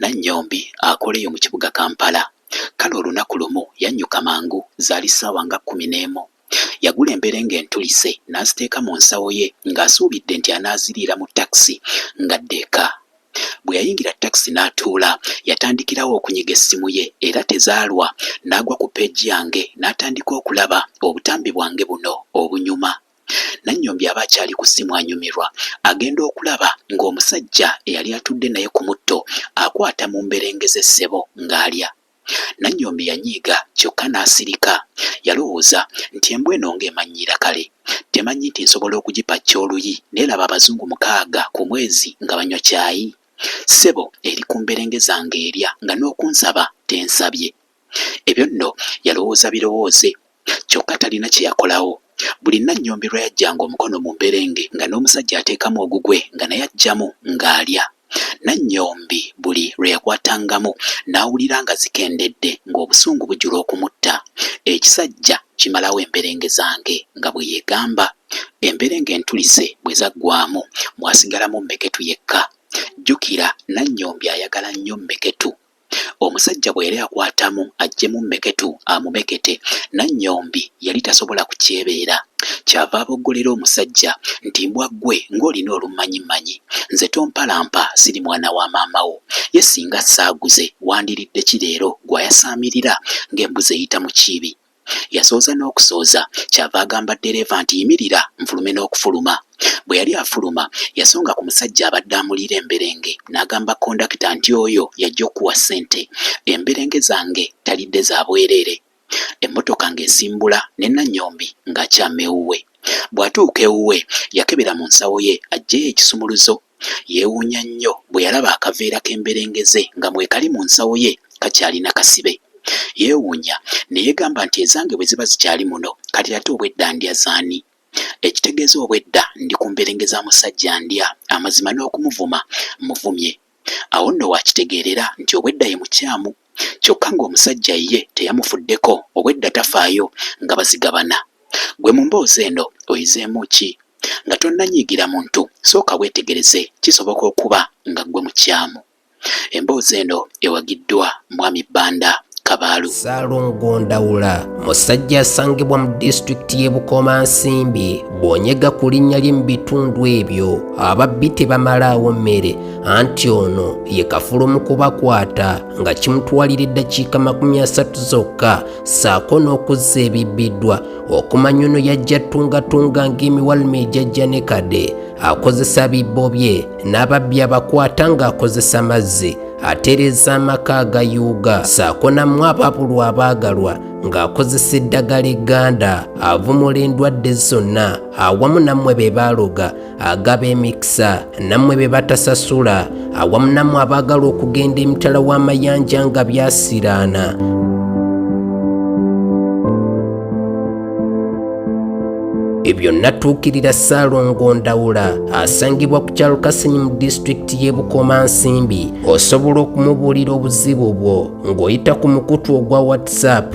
Nannyombi akola eyo mu kibuga Kampala. Kale olunaku lumu yannyuka mangu, zaali ssaawa nga kkumi n'emu. Yagula emberenge entulise n'aziteeka mu nsawo ye ng'asuubidde nti anaaziriira mu takisi ng'adda eka. Bwe yayingira takisi n'atuula, yatandikirawo okunyiga essimu ye era tezaalwa n'agwa ku peegi yange n'atandika okulaba obutambi bwange buno obunyuma. Nannyombi aba akyali ku ssimu anyumirwa agenda okulaba ng'omusajja eyali atudde naye ku mutto akwata mu mberenge ze ssebo ng'alya. Nannyombi yanyiiga kyokka n'asirika. Yalowooza nti embwa eno ng'emannyiira kale temanyi nti nsobola okugipacca oluyi n'elaba abazungu mukaaga ku mwezi nga banywa caayi? Ssebo eri ku mberenge zange erya nga n'okunsaba tensabye. Ebyo nno yalowooza birowooze, kyokka talina kye yakolawo. Buli Nnannyombe lwe yaggyanga omukono mu mberenge nga n'omusajja ateekamu ogugwe nga naye aggyamu ng'alya. Nnannyombi buli lwe yakwatangamu n'awulira nga zikendedde ng'obusungu bujula okumutta. Ekisajja kimalawo emberenge zange, nga bwe yeegamba. Emberenge entulise bwe zaggwaamu, mwasigalamu Mmeketu yekka. Jjukira Nnannyombi ayagala nnyo Mmeketu. Omusajja bwe yali akwatamu aggyemu mmeketu amumekete, Nannyombi yali tasobola kukyebeera. Ky'ava aboggolera omusajja nti, Mbwa ggwe ng'olina olummanyimmanyi! Nze tompalampa, siri mwana wa maama wo. Ye ssinga saaguze, wandiridde ki leero gw'ayasaamirira ng'embuzi eyita mu kiibi? Yasooza n'okusooza ky'ava agamba ddereeva nti, Yimirira nfulume n'okufuluma. Bwe yali afuluma, yasonga ku musajja abadde amuliira emberenge n'agamba kondakita nti, Oyo y'ajja okukuwa ssente. Emberenge zange talidde za bwereere. Emmotoka ng'esimbula ne Nannyombi ng'akyama ewuwe. Bw'atuuka ewuwe, yakebera mu nsawo ye aggyeyo ekisumuluzo Yeewuunya nnyo bwe yalaba akaveera k'emberengeze nga mwekali mu nsawo ye kakyalina kasibe. Yeewuunya ne yeegamba nti ezange bwe ziba zikyali muno kati ate obwedda ndya z'ani? Ekitegeeza obwedda ndi ku mberenge za musajja ndya amazima n'okumuvuma mmuvumye. Awo nno w'akitegeerera nti obwedda ye mukyamu. kyokka ng'omusajja ye teyamufuddeko obwedda tafaayo nga bazigabana. Ggwe mu mboozi eno oyizeemu ki? Nga tonnanyiigira muntu sooka weetegereze kisoboka okuba nga ggwe mukyamu. Emboozi eno ewagiddwa Mwami Banda Kabaalu. Ssalongo Ndawula musajja asangibwa mu disitulikiti y'e Bukomansimbi. Bw'onyega ku linnya lye mu bitundu ebyo ababbi tebamalaawo mmere. anti ono ye kafulu mu kubakwata nga kimutwalira eddakiika makumi asatu zokka saako n'okuzza ebibbiddwa okumanya ono yajja tungatunga ng'emiwaluma ejajja ne kade akozesa bibbo bye n'ababbi abakwata ng'akozesa mazzi atereeza amaka agayuuga saako namu ababulu abaagalwa ng'akozesa eddagala egganda avumula endwadde zonna awamu nammwe be baaloga agaba emikisa nammwe be batasasula awamu nammwe abaagala okugenda emitala w'amayanja nga byasiraana ebyo natuukirira ssaalongo ndawula asangibwa ku kyalo kasenyi mu disitulikiti y'e bukomansimbi osobola okumubuulira obuzibu bwo ng'oyita ku mukutu ogwa whatsapp